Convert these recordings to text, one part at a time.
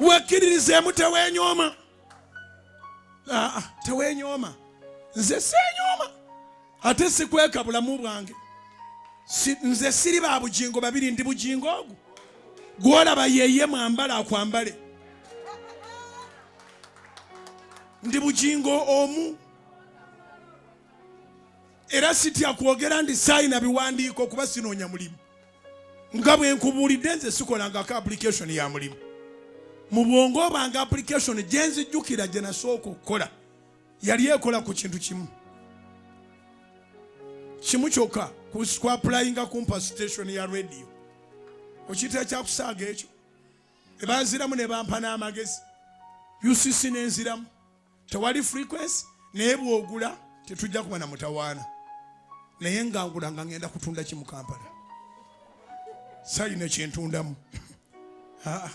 wekkiririzeemu teweenyooma teweenyooma nze seenyooma ate sikweka bulamu bwange nze siri ba bugingo babiri ndi bugingo ogwo gwolaba yeye mwambala akwambale ndi bugingo omu era sitya kwogera ndi sayina biwandiiko kuba sinoonya mulimu nga bwe nkubuulidde nze sikolangako application ya mulimu mu bwongo obanga application gye nzijjukira gye nasooka okukola yali ekola ku kintu kimu kimu kyokka kwapulayinga kumpa station ya radio okiyitira kyakusaaga ekyo ebanziramu ne bampa n'amagezi ucc nenziramu tewali frequency naye bwogula tetujja kuba na mutawaana naye ngangula nga ngenda kutunda ki mu kampala sayina kyentundamu ah,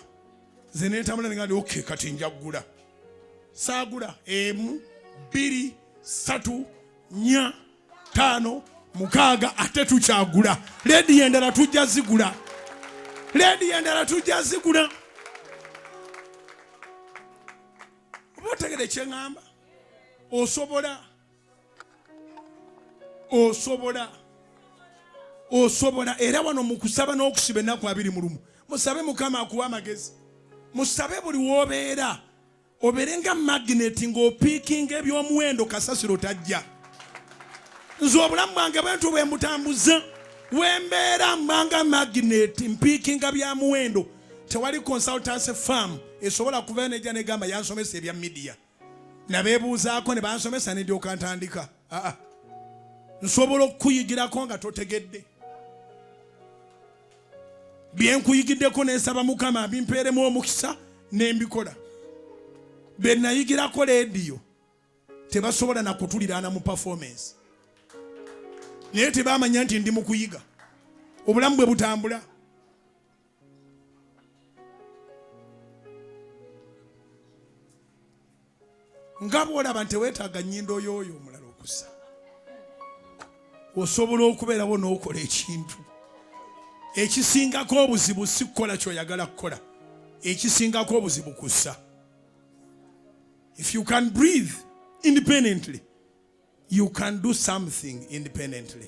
nze netambula nengandi ok kati njagula saagula emu bbiri satu nya taano mukaaga ate tukyagula lediyo endala tujja zigula lediyo endala tujja zigula oba otegede kyeŋamba osobola osobola osobola era wano mukusaba n'okusiba ennaku abiri mu lumu musabe mukama akuwa amagezi musabe buli wobeera obeere nga magineti ng'opiikinga ebyomuwendo kasasiro tajja nze obulamu bwange bwentu bwe mbutambuza wembeera mbanga magineti mpiikinga bya muwendo tewali consultancy farm esobola kuvayo nejja negamba yansomesa ebya midiya nabebuuzaako ne bansomesa nedyoka ntandika aa nsobola okukuyigirako nga totegedde byenkuyigiddeko nensaba mukama bimpeeremu omukisa nembikola benayigirako lediyo tebasobola nakutuliraana mu performance naye tebamanya nti ndi mukuyiga obulamu bwe butambula nga bwolaba nti teweetaaga nnyindo yooyo omulala okusa osobola okubeerawo n'okola ekintu ekisingako obuzibu si kukola kyoyagala kukola ekisingako obuzibu kussa if you can breathe independently you can do something independently